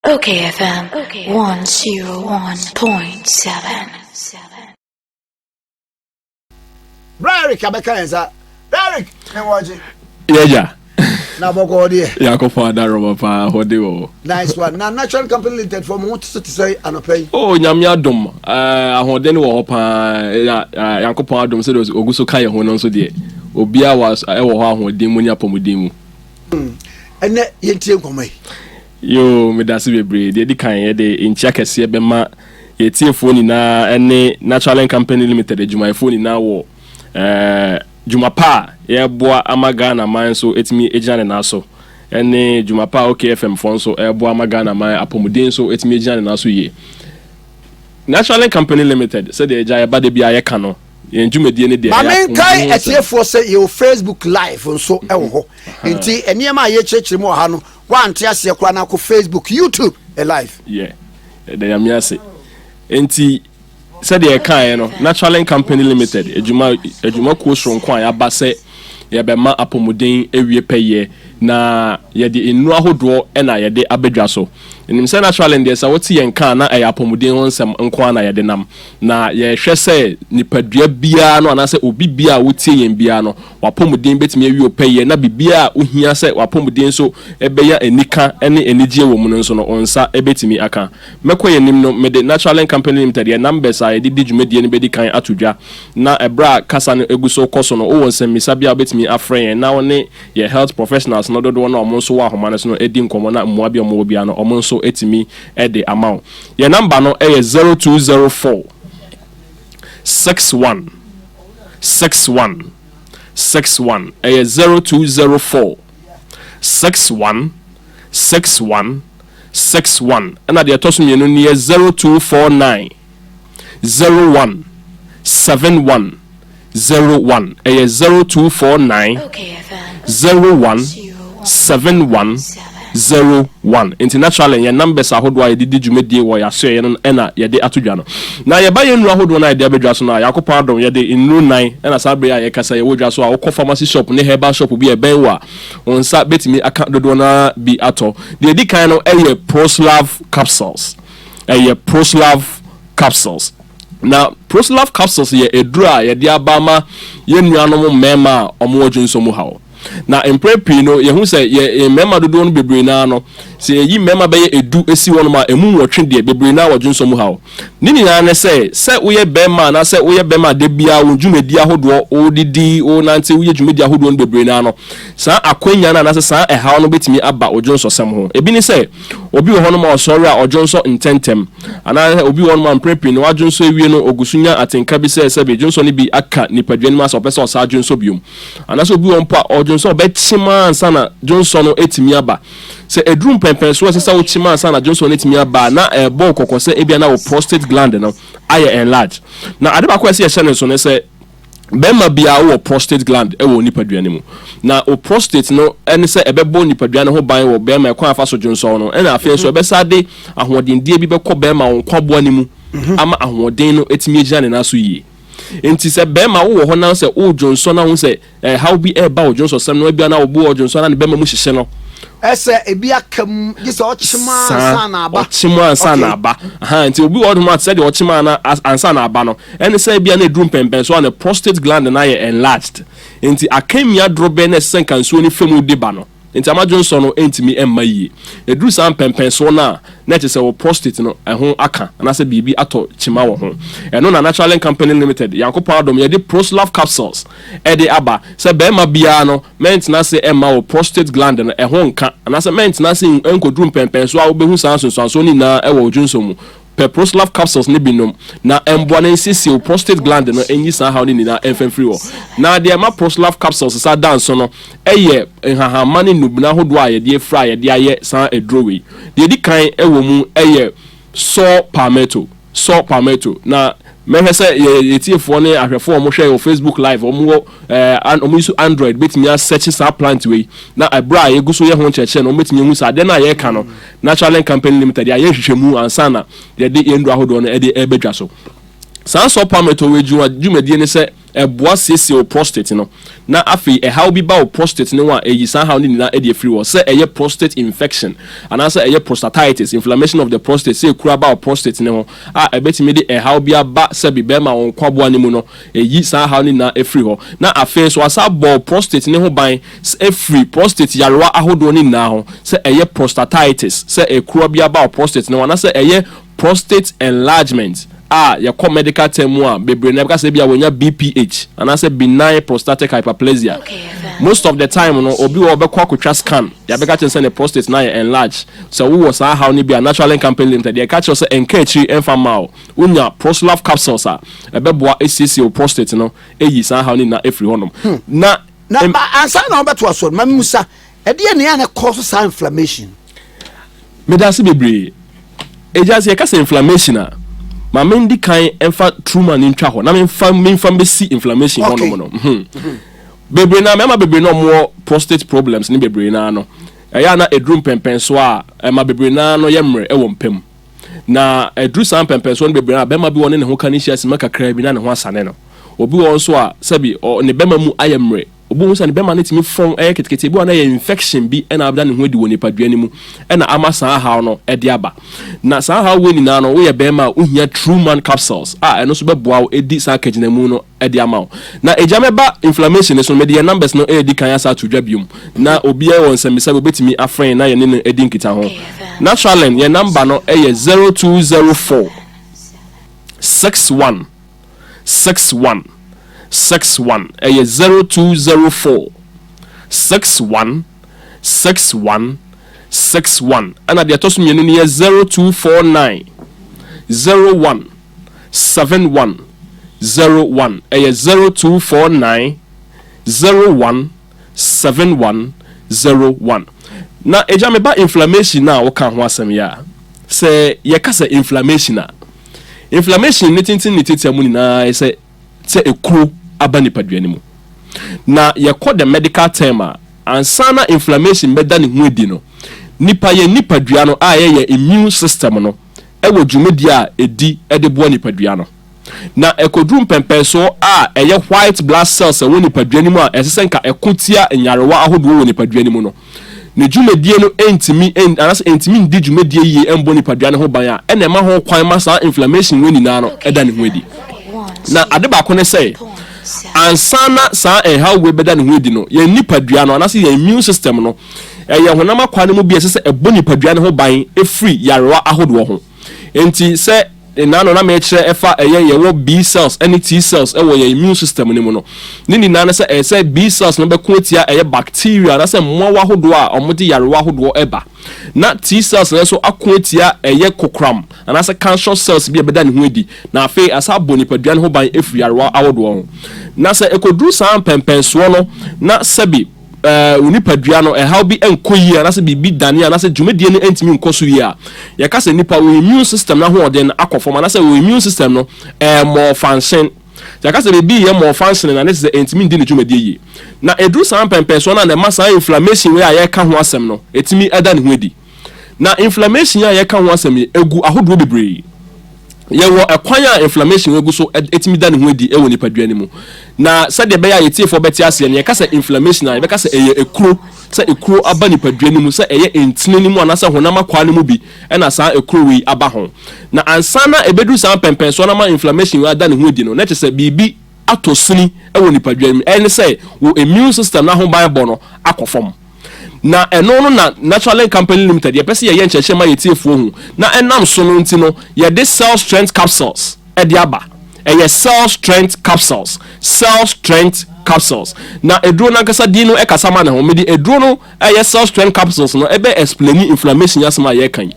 Okay FM 101.7 Bra Eric abɛka yɛn sa Eric ne wɔgye Yɛgya na bɔkɔ hɔ deɛ yɛakɔfa adarɔba paa hɔ de wɔ nice one na natural company limited fɔ mo ho so te sɛ anɔpɛ yi o nyame adom eh, ahoɔden wɔ hɔ paa eh, eh, nyankopɔn adom sɛdeɛ ɔgu so ka yɛ ho no nso deɛ obiaa wɔ hɔ ahoɔden mu ne apɔmuden mu Hmm, ɛnɛ yɛntie nkɔmmɔ yi. Yoo, medase bebree. Deɛ ɛdi kan, yɛde nkyia kɛseɛ bɛma yɛtiefoɔ nyinaa ne Naturalink Company Limited adwumayɛfoɔ nyinaa wɔ eh, dwuma pa a yɛreboa ama Ghana man nso atumi agyina ne nan so ne dwuma pa a OKFM foɔ nso ɛreboa ama Ghana man apɔmuden nso atumi agyina ne nan so yie. Naturalink Company Limited, sɛdeɛ agya yɛba da biara yɛka no, yɛn dwumadie no deɛ ma menkae atiefoɔ sɛ yɛwɔ facebook live nso wɔ hɔ nti nneɛma a yɛkyerɛkyerɛ mu wɔ ha no woante aseɛ koraa no akɔ facebook youtube live yɛ ɛda nyame ase nti sɛdeɛ ɛkaeɛ no naturalin company limited adwuma adwumakuo soronko a yɛaba sɛ yɛbɛma apɔmuden awie pɛyɛ na yɛde nnuro ahodoɔ na yɛde abɛdwa so Menim sɛ naturally no deɛ sɛ wote yɛn nka a na ɛyɛ apɔmuden ho nsɛm nko ara na yɛde nam, na yɛhwɛ sɛ nipadua biara no anaasɛ obi biara a wotie yɛn biara no w'apɔmuden bɛtumi awie wo pɛyɛ na biribiara a wohia sɛ w'apɔmuden so bɛnya anika ne anigyeɛ wɔ mu no nso no wo nsa bɛtumi aka. Mɛkɔ yɛn anim no, mede Naturelink Company Limited yɛn numbers a yɛde di dwumadie no bɛdi kan ato dwa na ɛberɛ a kasa no gu so rekɔ so no wowɔ nsɛmmisa bi a wobɛtumi afrɛ yɛn na wo ne Yɛn health professionals no dodoɔ no a wɔn nso wɔ ahoma no so no di nkɔmmɔ na mmoa bi a wɔwɔ biara no wɔn nso tumi de ama wo. Yɛn number no yɛ zero two zero four six one six one six one ɛyɛ zero two zero four six one six one six one ɛna deɛ ɛtɔ so mmienu no yɛ zero two four nine. zero one seven one zero one ɛyɛ zero two four nine zero one seven one zero one nti naturally yɛn numbers ahodoɔ a yɛde di dwumadie wɔ yɛasoɛeɛ no ɛna yɛde ato dwa no na yɛba yɛn nnuro ahodoɔ no a yɛde aba dwa so no a Nyankopɔn adom yɛde nnuro nan ɛna saa bere a yɛkasa yɛwɔ dwa so a wokɔ pharmacy shop ne herbal shop bi a ɛbɛn wɔ a wɔn nsa bɛtumi aka dodoɔ no ara bi atɔ deɛ ɛdi kan no ɛyɛ proslav capsules ɛyɛ Proslav capsules. Na Proslav capsules yɛ aduru a yɛde aba ama yɛn nuanom mmarima a wɔwɔ dwonsɔ mu haw. Na mprɛ pii no, yɛhu sɛ yɛ mmarima dodoɔ no bebree naa no, sɛ yɛyi mmarima bɛyɛ edu si hɔnom a, ɛmu nwɔtwe deɛ bebree naa wɔ dwonsɔ mu haw. Ne nyinaa ne sɛ, sɛ woyɛ barima anaasɛ woyɛ barima a da biara wo dwumadi ahodoɔ, wodidi, wonante, woyɛ dwumadi ahodoɔ no bebree naa no, saa akwanya no anaasɛ saa ɛhaw no bɛtumi aba wo dwonsɔsɛm ho. Ebi ne sɛ. Obi wɔ hɔnom a ɔsɔre a ɔdwonsɔ ntɛmntɛm, anaasɛ obi wɔ hɔnom a mprɛ pii no wadwonsɔ awie no ogu so nya atenka bi sɛ sɛbe dwonsɔ no bi aka nipadua no mu ase a ɔpɛ sɛ ɔsan dwonsɔ biom. Anaasɛ obi wɔ hɔ mpo a ɔdwonsɔ ɔbɛkyem ara ansa na dwonsɔ no atumi aba. Sɛ aduru mpɛnpɛn so a ɛsɛ sɛ wokyem ansa na dwonsɔ no atumi aba a, na ɛrebɔ wo kɔkɔ sɛ ebia na wo prostate gland no ayɛ enlarge. Na ade baako a ɛsɛ sɛ yɛhyɛ no nsow ne sɛ, Barima biara wɔ prostate gland wɔ onipadua no mu, na wo prostate no ne sɛ ɛbɛbɔ nipadua no ho ban wɔ barima ɛkwan a ɛfa so dwonsɔw no, ɛnna afei nso ɛbɛsan de ahoɔdendeɛ bi bɛkɔ barima wo nkwaboa no mu ama ahoɔden no atumi agyina ne nan so yie. Enti sɛ barima wowɔ hɔ na sɛ woredwonsɔ na wohu sɛ ɛhaw bi reba wo dwonsɔsɛm no, ebia na wo bo ɔdwonsɔ na ne bɛma mu hyehye no, Ɛsɛ ebi aka mu gye sɛ ɔkyem ansa na aba. Ɔkyem ansa na aba. Aha, nti obi wɔ hɔ nom a sɛdeɛ ɔkyem ansa na aba no, Ɛne sɛ ebia na aduru mpɛnpɛnso a ne prostate gland no ayɛ enlarged nti akannwia dorobɛn na ɛsɛ sɛ nka nsuo no fa mu de ba no nti ama dwonsɔ no antumi amma yie. Ɛduru saa mpɛnpɛnsoɔ no a, na ɛkyerɛ sɛ wo prostate no ɛho aka anaasɛ biribi atɔ kyima wɔ ho. Ɛno na Naturelink Company Limited, Nyankopɔn adom, yɛde Proslove Capsules de aba sɛ barima biara no mɛntena ase mma wo prostate gland no ɛho nka anaasɛ mɛntena ase nkɔduru mpɛnpɛnsoɔ a wobɛhu saa nsunsuansoɔ no nyinaa wɔ wo dwonsɔ mu. Peproslav capsules no bi nom na ɛmboa na ɛnsi siw prostate gland no nyi saa haw no nyinaa ɛmfa mfiri hɔ. Na deɛ ɛma proslav capsules sa da nso no yɛ nhahamma ne nnubena ahodoɔ a yɛde afira a yɛde ayɛ saa aduro wei. Deɛ ɛdi kan wɔ mu yɛ saw palmetto, saw palmetto, na mɛhwɛ sɛ yɛn atiefoɔ ne ahwɛfoɔ a wɔhwɛ wɔ facebook live wɔn wɔ ɛɛ wɔn use android bɛtumi asɛkye saa plant wei na ɛberɛ a yɛgu so yɛ ho nkyerɛkyerɛ no wɔn bɛtumi ahu sɛ adeɛ no a yɛreka no Natural Link Company Limited yɛayɛ nhwehwɛmu ansa na yɛde yɛn nnuro ahodoɔ no de reba dwa so. Saa saw palmetto wei adwuma dwumadie ne sɛ ɛboa siesie wo prostate no na afei ɛhaw bi ba wo prostate no ho a ɛyi saa haw no nyinaa de afiri hɔ sɛ ɛyɛ prostate infection anaasɛ ɛyɛ prostatitis, inflammation of the prostate, sɛ ɛkuru aba wo prostate no ho a ɛbɛtumi de ɛhaw bi aba sɛbi bɛrima wo nkwaboa no mu no ɛyi saa haw no nyinaa afiri hɔ na afei nso asa abɔ wo prostate no ho ban Sɛ ɛfiri prostate yarewa ahodoɔ no nyinaa ho, sɛ ɛyɛ prostatitis, sɛ ɛkura bi aba wɔ prostate no ho, anaasɛ ɛyɛ prostate enlargement a yɛkɔ medical term mu a, bebree no yɛbɛka sɛ ebia wɔanya BPH anaasɛ benign prostatic hyperplasia. Most of the time no, obi wɔ hɔ a ɔbɛkɔ akɔtwa scan, yɛabɛka akyerɛ no sɛ ne prostate no ayɛ enlarge. Sɛ wowɔ saa haw no bi a, Naturalink Company Limited yɛka kyerɛ wo sɛ ɛnka akyiri mfa mma wo. Wonya Prosulaf capsules a, ɛbɛboa asiesie wo prostate no, ayi saa haw no nyinaa afiri hɔnom. Na na ma ansa na ɔbɛto aso no ma musa ɛdeɛ nea na ɛkɔ so saa inflammation. meda ase bebree egya sɛ yɛka sɛ inflammation a ma me ndi kan mfa truma no ntwa hɔ na memfa memfa mbɛsi inflammation hɔ nom no mhm. Mhm. bebree na mmarima bebree na wɔwɔ prostate problems ne bebree na no ɛyɛ a na eduru mpɛmpɛn so a ɛma bebree na no yɛ mmerɛ ɛwɔ mpam Na ɛduru saa mpɛmpɛnsoɔ no bebree a, bɛrima bi wɔ hɔ ne ne ho ka no hyia simma kakraa bi na ne ho asane no. Obi wɔ hɔ nso a, sɛbi ɔ, ne bɛrima mu ayɛ mmerɛ. Obi hu sɛ ne bɛrima no tumi fɔn ɛyɛ ketekete, ebi wɔ hɔ a na ɛyɛ infection bi na abɛda ne ho adi wɔ nipadua no mu na ama saa haw no de aba. Na saa haw wei nyinaa no, woyɛ bɛrima a, wohia True Man Capsules a ɛno nso bɛboa wo di saa kagyinamu no de ama wo na egyam ɛba inflammation no so no mede yɛn numbers no redi kan asa ato dwa biom na obiara wɔ nsɛmmisa bi obetumi afrɛ yɛn na yɛne no adi nkitaho Naturalend yɛn number no yɛ zero two zero four six one six one six one ɛyɛ zero two zero four six one six one six one ɛna deɛ ɛtɔ so mmienu no yɛ zero two four nine zero one seven one zero one ɛyɛ zero two four nine zero one seven one zero one na agya me ba inflammation na woka ho asɛm yɛ a sɛ yɛka sɛ inflammation a inflammation ne tenten ne tiatia mu nyinaa sɛ sɛ ekuro aba nipadua no mu na yɛkɔ the medical term a ansa na inflammation bɛda ne ho adi no nipa yɛ nipadua no a yɛyɛ immune system no wɔ dwumadi a edi de boa nipadua no, na ɛkɔduru mpɛnpɛnso a ɛyɛ white blood cells a ɛwɔ nipadua no mu a ɛsɛ sɛ nka ɛko tia nyarewa ahodoɔ wɔ nipadua no mu no, ne dwumadie no ntumi nn anaasɛ ɛntumi nndi dwumadie yie mmɔ nipadua no ho ban a, ɛna ɛma ho kwan ma saa inflammation wei nyinaa no da ne ho adi. Na ade baako ne sɛ, ansa na saa nhaw wei bɛda ne ho adi no, yɛn nipadua no anaasɛ yɛn immune system no Ɛyɛ honam akwaa no mu bi a ɛsɛ sɛ ɛbɔ nipadua no ho ban firi nyarewa ahodoɔ ho. Enti sɛ nna ano na merekyerɛ ɛfa ɛyɛ yɛwɔ B cells ne T cells wɔ yɛn immune system no mu no, ne nyinaa ne sɛ ɛyɛ sɛ B cells no bɛko atia ɛyɛ bacteria anaasɛ mmoawa ahodoɔ a wɔde nyarewa ahodoɔ ba, na T cells no nso ako atia ɛyɛ kokoram anaasɛ cancerous cells bi a ɛbɛda ne ho adi, na afei asan abɔ nipadua no ho ban afiri nyarewa ahodoɔ ho. Na sɛ ɛkɔduru saa mpɛnpɛnsoɔ no na sɛbe. wo nipadua no ɛhaw bi nkɔ yie anaasɛ biribi dane anaasɛ dwumadie no ntumi nkɔ so yie a, yɛka sɛ nipa wo immune system no ahoɔden no akɔ fam anaasɛ wo immune system no ɛyɛ mmɔɔfansen. Sɛ yɛka sɛ biribi yɛ mmɔɔfansen na ne te sɛ ɛntumi ndi ne dwumadie yie. Na ɛduru saa mpɛmpɛnsoɔ no a na ɛma saa inflammation wei a yɛreka ho asɛm no ɛtumi da ne ho adi. Na inflammation a yɛka ho asɛm yi, egu ahodoɔ bebree. Yɛwɔ kwan a inflammation egu so tumi da ne ho adi wɔ nipadua no mu. Na sɛdeɛ ɛbɛyɛ a yɛtiefoɔ bɛte aseɛ no, yɛka sɛ inflammation a, yɛbɛka sɛ ɛyɛ ekuro. Sɛ ekuro aba nipadua no mu, sɛ ɛyɛ ntini no mu anaasɛ honam akwaa no mu bi na saa ekuro wei aba ho. Na ansa na ɛbɛduru saa mpɛnpɛnsoɔ no ama inflammation wei ada ne ho adi no, na kyerɛ sɛ biribi atɔ sini wɔ nipadwam mu. Ɛne sɛ wo immune system no ahoban bɔ no akɔ fam. Na ɛno no na Naturelink Company Limited yɛpɛ sɛ yɛyɛ nkyerɛkyerɛ ma yɛn atiefoɔ hu. Na ɛnam so no nti no yɛde Cell Strength Capsules de aba. Ɛyɛ Cell Strength Capsules, Cell Strength Capsules. Na aduro no ankasa din no kasa ma ne ho. Mede aduro no. ɛyɛ cell strength capsules no ɛbɛ explaini inflammation asɛm a yɛreka yi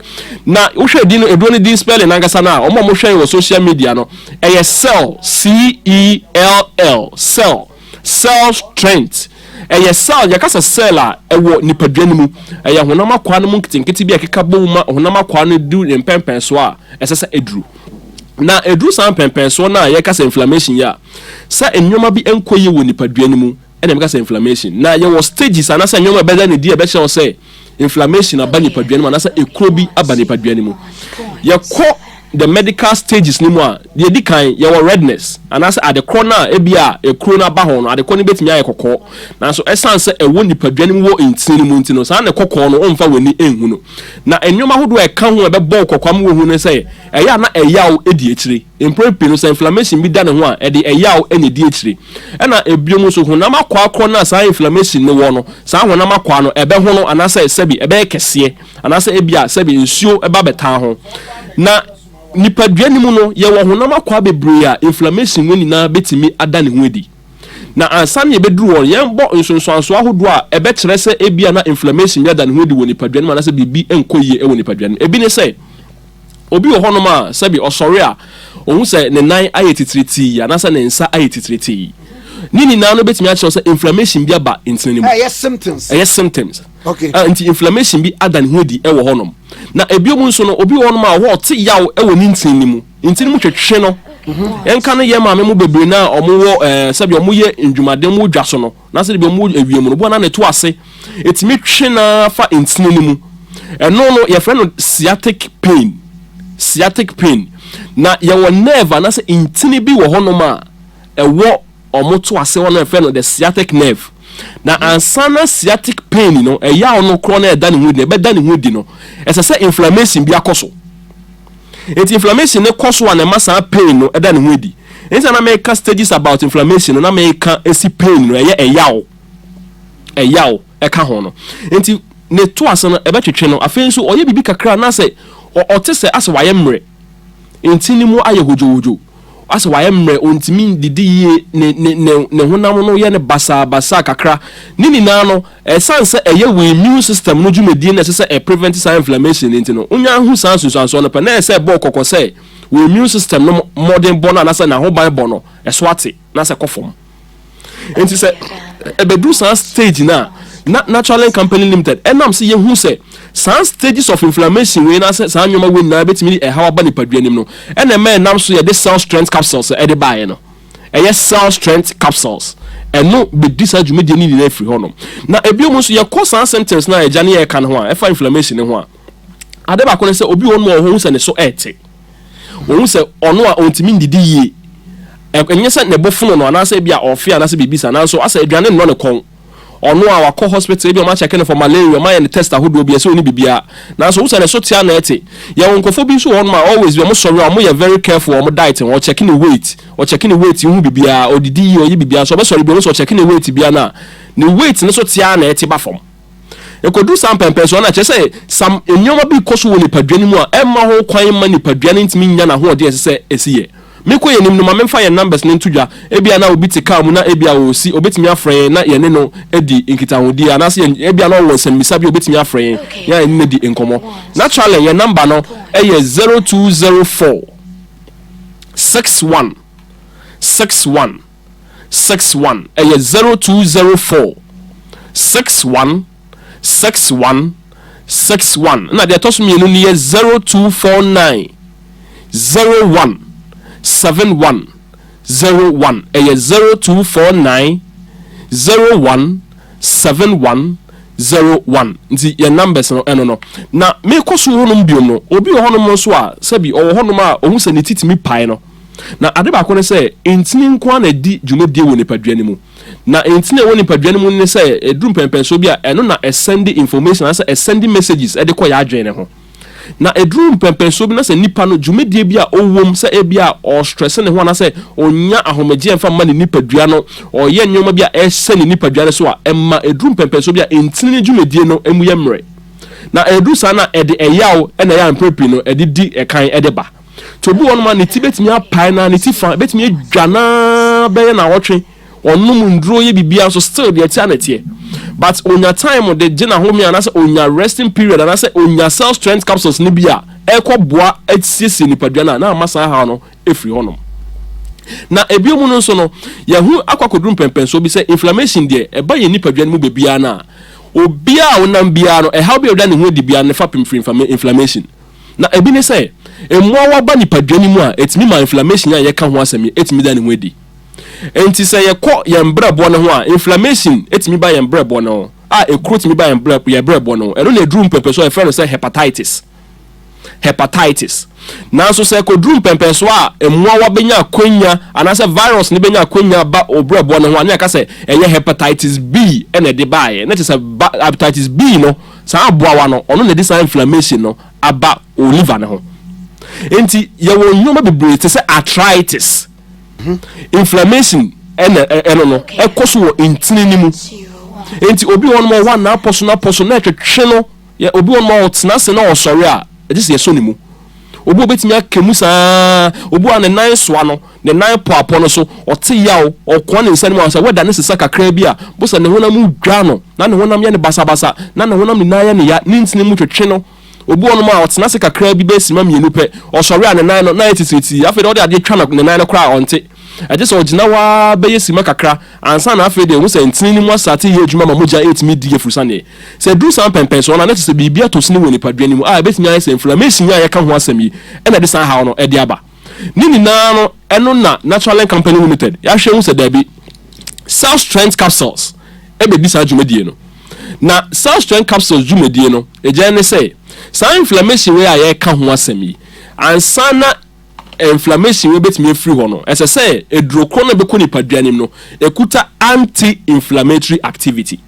na wohwɛ din no eduro no din spelling nankasa no a wɔn a wɔhwɛ wɔ social media no ɛyɛ cell c e l l cell cell strength ɛyɛ cell yɛka sɛ cell a ɛwɔ nipadua no mu ɛyɛ honam akwaa no mu nketenkete bi a ɛkeka bɔ mu ma honam akwaa no du ne mpɛmpɛn so a ɛsɛ sɛ eduru na eduru saa mpɛmpɛn so no a yɛka sɛ inflammation yi a sɛ nneɛma bi nkɔ yie wɔ nipadua no mu ɛna meka sɛ inflammation na yɛwɔ stages anasɛ nneɛma ɛbɛda ne di a ɛbɛkyerɛ wo sɛ inflammation aba nipadua no mu anasɛ ekuro bi aba nipadua no mu yɛkɔ the medical stages no mu a deɛ edi kan yɛwɔ redness anaasɛ adekorɔ no a ebi a ekuro no aba ho no adekorɔ no betumi ayɛ kɔkɔɔ nanso ɛsan sɛ ɛwɔ nipadua no mu wɔ ntini no mu nti no saa na kɔkɔɔ no ɔmfa wɔn ani nhu no na nneɛma ahodoɔ a ɛka ho a ɛbɛbɔ kɔkɔɔ ama wɔhu no sɛ ɛyɛ a na ɛyaw edi akyire mpere pii no sɛ inflammation bi da ne ho a ɛde ɛyaw ɛna edi akyire Ɛna bio nso, honam akwaa korɔ no a saa inflammation no wɔ no, saa honam akwaa no ɛbɛhono anaasɛ sɛbi ɛbɛyɛ kɛseɛ, anaasɛ ebia sɛbi nsuo ba bɛtaa ho. Na nipadua no mu no, yɛwɔ honam akwaa bebree a inflammation wɔ nyinaa bɛtumi ada ne ho adi. Na ansa na yɛbɛduru hɔ no, yɛbɔ nsonsoansoɔ ahodoɔ a ɛbɛkyerɛ sɛ ebia na inflammation bi ada ne ho adi wɔ nipadua no mu anaasɛ biribi nkɔ yie wɔ nipadua no mu. Ebi ne sɛ. Obi wɔ hɔnom a, sɛbe ɔsɔre a, ohu sɛ ne nan ayɛ titiritii anaasɛ ne nsa ayɛ titiritii. Ne nyinaa no betumi akyerɛ wo sɛ inflammation bi aba ntini no mu. Ɛyɛ symptoms. Ɛyɛ symptoms. Okay. Uh, nti inflammation bi ada ne ho adi wɔ hɔnom. Na ebiom nso no, obi wɔ hɔnom a ɔhɔ ɔte yaw wɔ ne ntini no mu. Ntini mu twetwe no. Ɛnka mhm. no yɛ maame mu bebree no a wɔwɔ ɛɛ eh, sɛbi wɔyɛ ndwumaden mu dwa so no. Na sɛdeɛ bɛn mu ewiem no boɔ no ara na ɛto ase, ɛtumi twe no ara fa ntini no mu. Ɛno no, yɛfrɛ no sciatic pain, sciatic pain. Na yɛwɔ nerve anaasɛ ntini bi wɔ hɔnom a ɛwɔ wɔn to ase hɔ no a yɛfrɛ no the sciatic nerve. Na ansa na sciatic pain no, ɛyaw no korɔ no ɛda ne ho adi no, ɛbɛda ne ho adi no, ɛsɛ sɛ inflammation bi akɔ so. Nti inflammation no kɔ so a na ɛma saa pain no da ne ho adi. Nti na na meka stages about inflammation no na meka si pain no ɛyɛ ɛyaw ɛyaw ɛka ho no. Nti ne to ase no ɛbɛtwetwe no afei nso ɔyɛ biribi kakra na asɛ ɔte sɛ asɛ wayɛ mmerɛ nti ne mu ayɛ hodwohodwo. Asɛ wayɛ mmerɛ, ɔntumi ndidi yie, ne ne ne ne honam no yɛ no basaa basaa kakra. Ne nyinaa no, ɛsiane sɛ ɛyɛ wo immune system no dwumadie na ɛsɛ sɛ ɛ prevent saa inflammation no nti no, wo nya hu saa nsunsuansoɔ no pɛ na ɛyɛ sɛ ɛbɔ wo kɔkɔ sɛ wo immune system no mmɔdenbɔ no anaa sɛ n'ahobanbɔ no, ɛso ate na asɛ kɔ fam. nti sɛ ɛbɛduru saa stage no a na natural company limited ɛnam sɛ yɛhu sɛ saa stages of inflammation wei na sɛ saa nneɛma wei nyinaa bɛtumi de ɛhaw aba nipadua nim no ɛna ɛma ɛnam so yɛde cell strength capsules ɛde baeɛ no ɛyɛ cell strength capsules ɛno bɛdi saa dwumadie no nyinaa firi hɔ nom na ebio mu nso yɛkɔ saa symptoms no a agya ne yɛka no ho a ɛfa inflammation no ho a ade baako ne sɛ obi wɔ no ma ɔho hu sɛ ne so ɛte Ohu sɛ ɔno a ontumi nnidi yie. Ɛ, ɛnyɛ sɛ ne bo fono no anaasɛ ebia ɔɔfe anaasɛ biribi saa, nanso asɛ aduane nnɔ ne kɔn. Ɔno a wakɔ hospital, ebia wɔakyɛke no for malaria, wɔayɛ no test ahodoɔ bi, ɛsɛ onni biribiara, nanso wohu sɛ ne so tea na ɛte. Yɛwɔ nkurɔfoɔ bi nso wɔ hɔnom a always bi wɔsɔre a wɔyɛ very careful wɔ wɔn diet ho, ɔkyɛke ne weight, ɔkyɛke ne weight wohu biribiara, ɔdidi yie, ɔyɛ biribiara, nanso ɔbɛsɔre bi a wohu sɛ ɔkyɛke ne weight biara no a, ne weight no so tea na ɛte ba fam. Ɛkɔduru saa mpɛnpɛnsoɔ no a, kyerɛ sɛ some nneɛma bi rekɔ so wɔ nipadua no mu a ɛmma ho kwan mma nipadua no ntumi nnya n'ahoɔden a ɛsɛ sɛ ɛsi yɛ. Mekɔ yɛn anim no, ma memfa yɛn numbers no nto dwa. Ebia na obi te car mu na ebia ɔresi, ɔbɛtumi afrɛ yɛn na yɛne no adi nkitahodie. Anaasɛ yɛn, ebia na ɔwɔ nsɛmmisa bi a ɔbɛtumi afrɛ yɛn na yɛne no adi nkɔmmɔ. Naturally, yɛn number no yɛ zero two zero four six one six one. six one ɛyɛ zero two zero four six one six one six one ɛna deɛ ɛtɔ so mmienu no yɛ zero two four nine zero one seven one zero one ɛyɛ zero two four nine zero one seven one zero one nti yɛn numbers no ɛno no na mekɔ so hɔnom biom no obi wɔ hɔnom nso a sɛbi ɔwɔ hɔnom a ɔhu sɛ ne ti tumi pae no. Na ade baako ne sɛ, ntini nko ara na ɛdi dwumadie wɔ nipadua no mu. Na ntini a ɛwɔ nipadua no mu ne sɛ, ɛduru mpɛnpɛnsoɔ bi a, ɛno na ɛsɛnde information anaasɛ ɛsɛnde messages de kɔ yɛn adwene no ho. Na ɛduru mpɛnpɛnsoɔ bi na sɛ nipa no, dwumadie bi a ɔwɔ mu, sɛ ebia ɔrestrɛse ne ho anaasɛ ɔnnya ahomegyeɛ mfa mma ne nipadua no, ɔreyɛ nneɛma bi a ɛsɛ ne nipadua no so a, ɛma ɛduru mpɛnpɛnsoɔ bi a ntini no dwumadie no mu yɛ mmerɛ. Na ɛduru saa no a, ɛde ɛyaw na ɛyɛ a mprɛ pii no ɛde di ɛkan de ba. nti obi wɔ nom a ne ti bɛtumi apae no a ne ti fa bɛtumi adwa no ara bɛyɛ naawɔtwe ɔnom nnuro yɛ biribiara nso still deɛ ɛteɛ na ɛteɛ but onya time de gye n'ahome anaasɛ onya resting period anaasɛ onya cell strength capsules no bi a ɛrekɔ boa asiesie nipadua no a na ama saa haw no ɛfiri hɔnom na ebio mu no nso no yɛho akɔ akɔduru mpɛmpɛnsoɔ bi sɛ inflammation deɛ ɛba yɛ nipadua no mu baabiara no a obiara a wonam biara no ɛhaw bi a ɔda ne ho adi biara no fa pem firi inflammation Na ebi ne sɛ, mmoawa ba nipadua no mu a, etumi ma inflammation a yɛka ho asɛm yi tumi da ne ho adi. Enti sɛ yɛkɔ yɛn brɛboɔ no ho a, inflammation tumi ba yɛn brɛboɔ no ho, a ekuro tumi ba yɛn brɛ yɛn brɛboɔ no ho. Ɛno na ɛduru mpɛmpɛsoɔ a yɛfrɛ no sɛ hepatitis. Hepatitis. Nanso sɛ ɛkɔduru mpɛmpɛsoɔ a mmoawa bɛnya akwanya anaasɛ virus no bɛnya akwanya ba wo brɛboɔ no ho a, ne yɛka sɛ ɛyɛ hepatitis B na ɛde baeɛ. Na kyerɛ sɛ ba hepatitis B no Saa aboawa no, ɔno na ɛde saa inflammation no aba wɔ liver no ho. Enti yɛwɔ nneɛma bebree te sɛ arthritis, inflammation ɛna ɛno no ɛkɔ so wɔ ntini no mu. Enti obi wɔ hɔ no wɔ hɔ n'apɔso n'apɔso na ɛtwetwe no. Yɛ obi wɔ hɔ no ɔtena ase na ɔsɔre a ɛgye sɛ yɛsɔ ne mu. Obi obetumi aka mu saa, obi wɔ ne nan soa no. Ne nan pɔapɔ no so, ɔte yaw, ɔkoa ne nsa no mu ara sɛ wɛda no sesa kakraa bi a, mpo sɛ ne honam mu dwa no, na ne honam yɛ no basabasa, na ne honam nyinaa yɛ no ya, ne ntini mu twetwe no. Obi wɔ hɔnom a, ɔtena ase kakraa bi, bɛyɛ simma mmienu pɛ, ɔsɔre a, ne nan no, na ayɛ titiritii, afei deɛ wɔde adeɛ twa ne nan no koraa a, ɔnte. Ɛgye sɛ ɔgyina hɔ ara bɛyɛ simma kakra, ansa na afei deɛ ɔhu sɛ ntini no mu asate reyɛ adwuma ma mogya retumi di afurusane. Sɛ ɛduru saa mpɛnpɛnsoɔ no a, na kyerɛ sɛ biribi atɔ sini wɔ nipadua no mu a ɛbɛtumi ayɛ sɛ inflammation yi a yɛka ho asɛm yi na ɛde saa haw no de aba. Ne nyinaa no, ɛno na Naturalink Company Limited ahwɛ ahu sɛ dabi, Cell Strength Capsules bɛdi saa dwumadie no. Na Cell Strength Capsules dwumadie no gyae ne sɛ, saa inflammation wei a yɛreka ho asɛm yi, ansa na inflammation wei bɛtumi afiri hɔ no, ɛsɛ sɛ aduro korɔ no a ɛbɛkɔ nipadua no mu no kuta anti-inflammatory activity.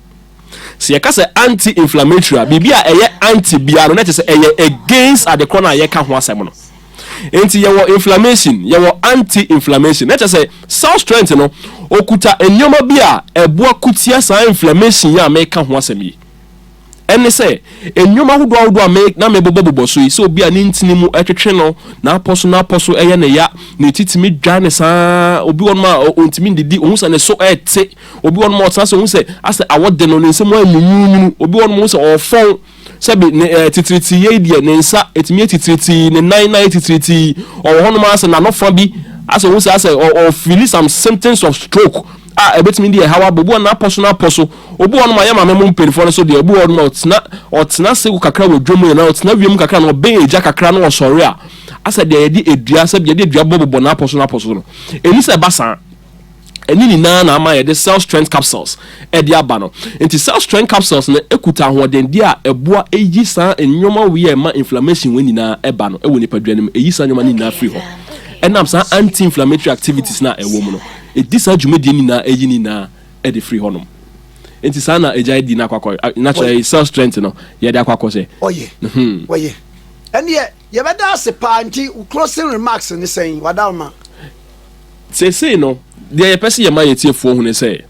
Sɛ yɛka sɛ anti-inflammatory a, biribi a ɛyɛ anti biara no, na kyerɛ sɛ ɛyɛ against ade korɔ no a yɛka ho asɛm no. Enti yɛwɔ inflammation, yɛwɔ anti-inflammation. Na kyerɛ sɛ cell strength no, okuta nneɛma bi a ɛboa ko tia saa inflammation yi a meka ho asɛm yi. Ɛne sɛ, nneɛma ahodoɔ ahodoɔ a me na mebobɔbobɔ so yi, sɛ obi a ne ntini mu ɛtwetwe no, n'apɔ so n'apɔ so ɛyɛ ne ya, ne ti tumi dwane saa, obi wɔ nom a ɔntumi ndidi, ohu sɛ ne so ɛte, Obi wɔ hɔ nom a ɔtena ase, ohu sɛ asɛ awɔ de no, ne nsa mu ayɛ nwunwuunwunu. Obi wɔ hɔ nom ohu sɛ ɔrefɔn, sɛbe ne ɛɛ titiritii yei deɛ, ne nsa ɛtumi yɛ titiritii, ne nan nan yɛ titiritii. Ɔwɔ hɔ nom ara sɛ n'ano fa bi, asɛ ohu sɛ asɛ ɔ ɔfeeli some symptoms of stroke a ɛbɛtumi de ɛhaw aba. Obi wɔ hɔ nom n'apɔ so n'apɔ so. Obi wɔ hɔ nom a yɛ maame mo mpaninfoɔ no nso deɛ, obi wɔ hɔ nom a ɔtena ɔtena ase wɔ kakra wɔ dwam anaa ɔtena wiem kakra na ɔbɛn agya kakra na ɔsɔre a, asɛ deɛ yɛde adua sɛbe yɛde adua bɔ bobɔ n'apɔ so n'apɔ so no. Ɛni sɛ ɛba saa. Ɛno nyinaa na ama yɛde Cell Strength Capsules de aba no. Enti Cell Strength Capsules no kuta ahoɔdendeɛ a ɛboa yi saa nneɛma wei a ɛma inflammation wei nyinaa ba no wɔ nipadua no mu. Ɛyi saa nneɛma no nyinaa firi hɔ. Ɛnam saa anti-inflammatory activities no a ɛwɔ mu no, ɛdi saa dwumadie no nyinaa ɛyi ne nyinaa de firi hɔnom. Enti saa na agya adi no akɔ akɔ, na kyerɛ Cell Strength no yɛde akɔ akɔ sɛ. Ɔyɛ, ɔyɛ. Ɛnneɛ Yɛbɛda ase paa nti wo closing remarks ne sɛn w'adalma? Seesei no, deɛ yɛpɛ sɛ yɛma yɛn atiefoɔ hu ne sɛ,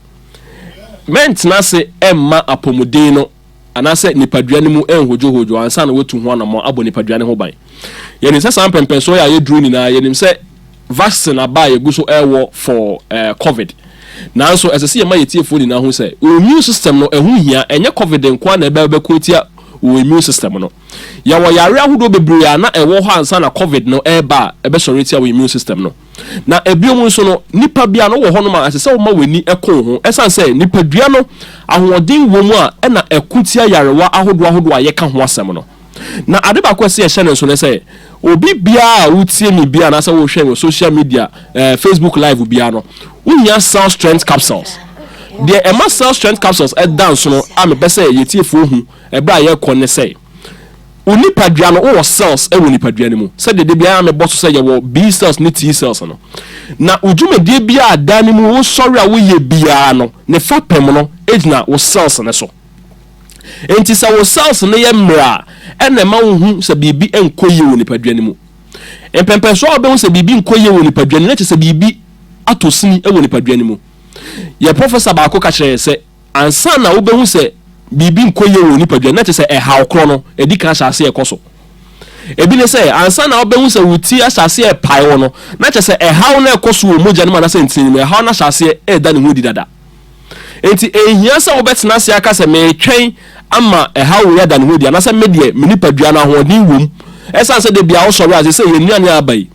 mɛntena ase mma apɔmuden no anaasɛ nipadua no mu nhodwohodwo ansa na wɔatu ho anammɔn abɔ nipadua no ho ban. Yɛnim sɛ saa mpɛmpɛnsoɔ yi a yɛduru nyinaa, yɛnim sɛ vaccine aba a yɛgu so rewɔ for eh, covid. Nanso ɛsɛ sɛ yɛma yɛn atiefoɔ nyinaa hu sɛ wɔn immune system no ɛho hia, ɛnyɛ covid nko ara na ɛbɛbɛko atia wɔn immune system no. Yɛwɔ yare ahodoɔ bebree a na ɛwɔ hɔ ansa na Covid no reba a ɛbɛsɔre atia wo immune system no. Na biom nso no, nipa biara no wɔ hɔnom a ɛsɛ sɛ woma w'ani ko wo ho ɛsiane sɛ nipadua no ahoɔden wɔ mu a ɛna ɛko tia yarewa ahodoɔ ahodoɔ a yɛka ho asɛm no. Na ade baako a ɛsɛ sɛ yɛhyɛ no nso ne sɛ, obi biara a wotie me biara anaasɛ wohwɛ me wɔ social media, eh, Facebook live biara no, wohia cell strength capsules. Deɛ ɛma cell strength capsules ɛda nsono a mepɛ sɛ yɛtiefoɔ hu Ɛberɛ a yɛrekɔ ne sɛ, wo nipadua no, wowɔ cells wɔ nipadua no mu, sɛdeɛ da biara mebɔ so sɛ yɛwɔ B cells ne T cells no. Na wo dwumadie biara a da no mu wosɔre a woyɛ biara no, ne fapem no gyina wo cells no so. Enti sɛ wo cells no yɛ mmerɛ a, ɛna ɛma wohu sɛ biribi nkɔ yie wɔ nipadua no mu. Mpɛmpɛnsoɔ a wobɛhu sɛ biribi nkɔ yie wɔ nipadua no mu, na kyerɛ sɛ biribi atɔ sini wɔ nipadua no mu. Yɛn professor baako ka kyerɛɛ yɛn sɛ, Ansa na wobɛhu sɛ biribi nkɔ yie wɔ wo nipadua no, na kyerɛ sɛ ɛhaw korɔ no adi kan ahyɛ aseɛ rekɔ so. Ebi ne sɛ, ansa na wobɛhu sɛ wo ti ahyɛ aseɛ repae wo no, na kyerɛ sɛ ɛhaw no rekɔ so wɔ mogya no mu anaasɛ ntini no mu, ɛhaw no ahyɛ aseɛ reda ne ho adi dada. Enti ɛnhia sɛ wobɛtena ase aka sɛ, Meretwɛn ama ɛhaw wei ada ne ho adi, anaasɛ Me deɛ, me nipadua no, ahoɔden wom. Ɛsiane sɛ da biara wosɔre a, seesei yɛn nnuane a aba yi,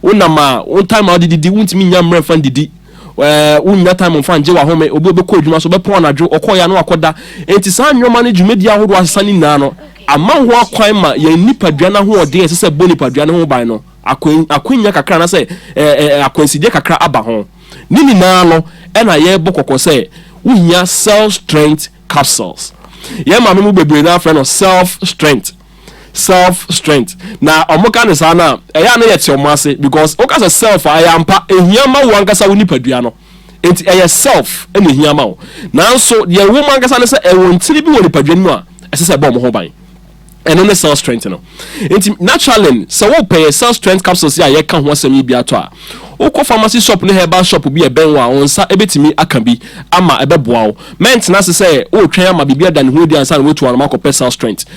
Wo nam a, wo time a wode didi, wontumi nnya mmerɛ mfa ndidi. Ɛɛ wonnya time mfa ngye w'ahome. Obi a ɔbɛkɔ adwuma so, ɔbɛpɔn anadwo, ɔkɔeɛ a na wakɔda. Enti saa nneɛma no, dwumadie ahodoɔ a asesa no nyinaa no, ama ho akwan ma yɛn nipadua no ahoɔden a ɛsɛ sɛ ɛbɔ nipadua no ho ban no, akwan, akwannya kakra anaasɛ ɛɛ ɛɛ akwansideɛ kakra aba ho. Ne nyinaa no, ɛna yɛrebɔ kɔkɔ sɛ wohia self-strength capsules. Yɛn maame mu bebree no ara frɛ no self-strength. self strength na ɔmo ka no saa no a ɛyɛ a na yɛte ɔmo ase because woka sɛ self a ɛyɛ ampa ehia ma wo ankasa wo nipadua no nti ɛyɛ self na ehia ma wo nanso deɛ ɛwɔ mu ankasa no sɛ ɛwɔ ntini bi wɔ nipadua no mu a ɛsɛ sɛ ɛbɔ ɔmo ho ban ɛno ne self strength no nti naturally sɛ wopɛ yɛ self strength capsules yi a yɛka ho asɛm yi bi atɔ a wokɔ pharmacy shop ne herbal shop bi ɛbɛn wo a wɔn nsa ebetumi aka bi ama ɛbɛboa wo mɛntena ase sɛ wotwɛn ama biribi ada ne ho adi ansa na woatu anam akɔpɛ self strength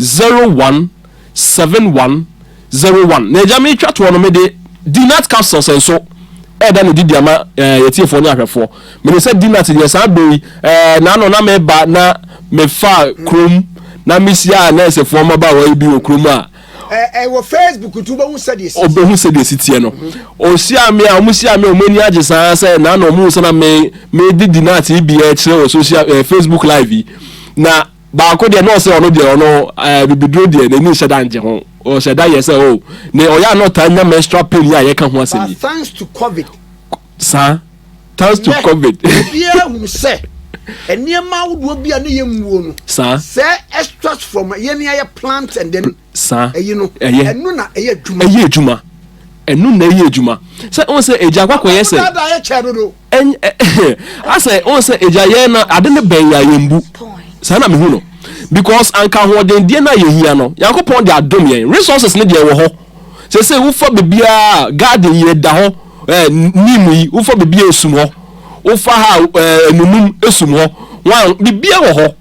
zero one seven one zero one na agya metwa toɔ no mede dinat capsules nso ɛɛda no didi ama ɛɛ yɛtiefoɔ ne ahwɛfoɔ mene sɛ dinat deɛ saa bɛ yi ɛɛ na ano na meba na mefa kurom na mehyia a nɛɛsefoɔ mmabaawa yi bi wɔ kurom a ɛwɔ facebook nti wobɛhu sɛdeɛ si ɔbɛhu sɛdeɛ si teɛ no ɔhyia me a ɔmo hyia me a ɔmo ani agye saa sɛ na na ɔmo sɛ na me me di dinat yi bi ɛkyerɛ wɔ social ɛɛ facebook live yi na Baako deɛ na ɔsɛ ɔno deɛ ɔno ɛɛ bibiduro deɛ n'ani nhyɛ da ngye ho. Ɔhyɛ da yɛ sɛ oh ne ɔyɛ a na ɔtaa nya menstrual pain yi a yɛka ho asɛm yi. But thanks to covid. Saa. Thanks to covid. Ɛnɛ obiara hunu sɛ nneɛma ahodoɔ bi a ne yɛ mmuo no. Saa. Sɛ extract from yɛn a yɛ plant and then. saa. Ɛyi no, ɛyɛ. Ɛno na ɛyɛ adwuma. Ɛyɛ adwuma. Ɛno na ɛyɛ adwuma. Sɛ wɔn sɛ egya akɔ akɔyɛ sɛ. Ɔbɛda ayɛ kyɛ dodo. Asɛ wɔn sɛ egya yɛn na ade no bɛn yɛ yɛn bu. Saa na mehu no. Because anka ahoɔden deɛ na yɛhia no. Yankopɔn de adom yɛn. Resources no deɛ wɔ hɔ. Sɛ sɛ wofa bebiara garden yi ɛda hɔ ɛɛ neem yi wofa bebiara esum hɔ. Wofa ha ɛɛ nunum esum hɔ. Wɔn bebiara wɔ hɔ.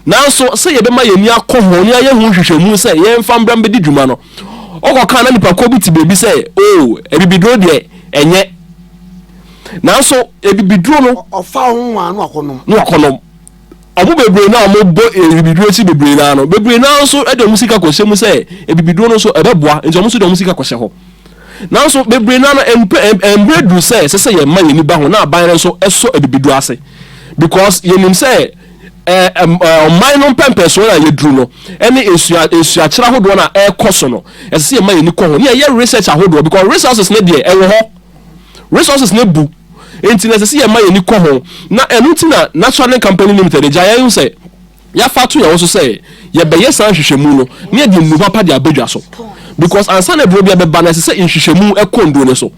Nanso, sɛ yɛbɛma yɛn ani akɔ ho na yɛayɛ ho nhwehwɛmu sɛ yɛmfa mbra mbedi dwuma no, ɔkɔkaa na nnipakuo bi te baabi sɛ, Oo, abibiduro deɛ, ɛnyɛ. Nanso, abibiduro no. Ɔfa ho nwaa na wakɔnom. Na wakɔnom. Wɔn bebree no a wɔbɔ abibiduro akyi bebree no ara no, bebree no ara nso de wɔn sika kɔhyɛ mu sɛ abibiduro no nso ɛbɛboa, nti wɔn nso de wɔn sika kɔhyɛ hɔ. Nanso, bebree no ara no, mmerɛ duru sɛ ɛsɛ sɛ yɛma yɛn ani ba ho na aban no nso sɔ abibiduro ase because yɛnim sɛ ɔman no mpɛmpɛsoɔ no a yɛduru no ne nsua nsuakyerɛ ahodoɔ no a ɛrekɔ so no ɛsɛ sɛ yɛma yɛni kɔ ho ne yɛyɛ research ahodoɔ because resources no deɛ ɛwɔ hɔ resources no bu nti na ɛsɛ sɛ yɛma yɛni kɔ ho na ɛno nti na Natural Company Limited gya yɛn sɛ yɛafa to yɛn ho so sɛ yɛbɛyɛ saa nhwehwɛmu no ne yɛde nnuho papa de abɛdwa so because ansa na aduro bi abɛba no ɛsɛ sɛ nhwehwɛmu ɛkɔ nnuro no so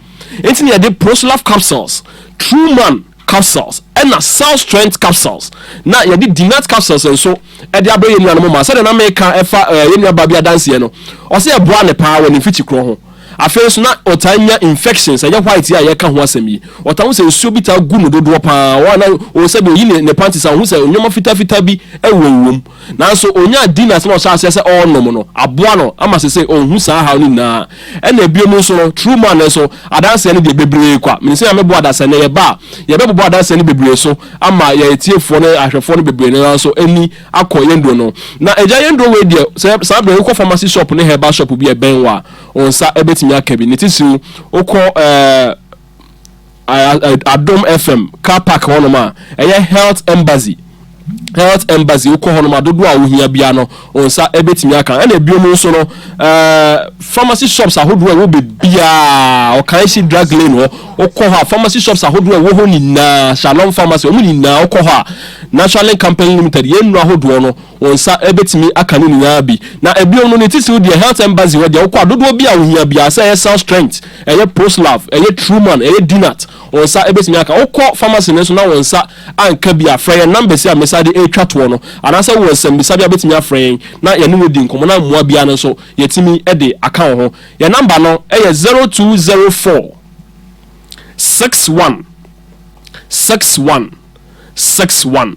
nti na yɛde Prosolaf capsules True Man capsules ɛna cell strength capsules na yɛde dinat capsules nso ɛde abrɛ yɛn nuanom ma sɛdeɛ na meka ɛfa ɛɛ yɛn nuaba bi adanseɛ no ɔsɛ ɛboa ne paa wɔ ne mfiti korɔ ho afei nso na ɔtaa nya infections ɛnyɛ white a yɛka ho asɛm yi ɔtaa ho sɛ nsuo bi taa gu no dodoɔ paa wɔn a na wɔn sɛdeɛ oyi ne ne panties a wɔn ho sɛ nneɛma fitaa fitaa bi ɛwɔ wɔm Nanso onyaa din na asɛm a ɔhyɛɛ aseɛ sɛ ɔrenom no aboa no ama seesei ɔnhu saa haw no nyinaa. Ɛnna biom nso no, True Man no nso, adanseɛ no deɛ, bebree kwa. Menim sɛ Nyame boa da sɛ nnɛ yɛba a, yɛbɛbobɔ adanseɛ no bebree so ama yɛn atiefoɔ ne ahwɛfoɔ no bebree no ara nso ani akɔ yɛn nnuro no. Na Agya yɛn nnuro wei deɛ, sɛ saa berɛ yi wokɔ pharmacy shop ne herbal shop bi a ɛbɛn wo a, wo nsa bɛtumi aka bi. Ne titiriw, wokɔ ɛɛ. adom fm car park hɔnom a ɛyɛ health embassy health embassy wokɔ hɔnom a dodoɔ a wohia biara no wɔn nsa ɛbɛtumi aka ɛna ebiom nso no ɛɛ pharmacy shops ahodoɔ a ɛwɔ bebiara ɔkan si drug lane hɔ wokɔ hɔ a pharmacy shops ahodoɔ a ɛwɔ hɔ nyinaa shalom pharmacy wɔn nyinaa wokɔ hɔ a national company limited yɛn nnuro ahodoɔ no Wo nsa bɛtumi aka no nyinaa bi. Na bio no ne titiriw deɛ health embassy hɔ deɛ wokɔ a dodoɔ biaa wohia biaa sɛ ɛyɛ cell strength, ɛyɛ proslav, ɛyɛ truman, ɛyɛ dinat wo nsa bɛtumi aka. Wokɔ pharmacy no nso na wo nsa anka bi a frɛ yɛn numbers yi a mesan de retwa toɔ no anaasɛ wowɔ nsɛmmisa bi a wobɛtumi afrɛ yɛn na yɛne wo adi nkɔmmɔ na mmoa biaa no nso yɛtumi de aka wo ho. Yɛn number no yɛ zero two zero four six one six one six one.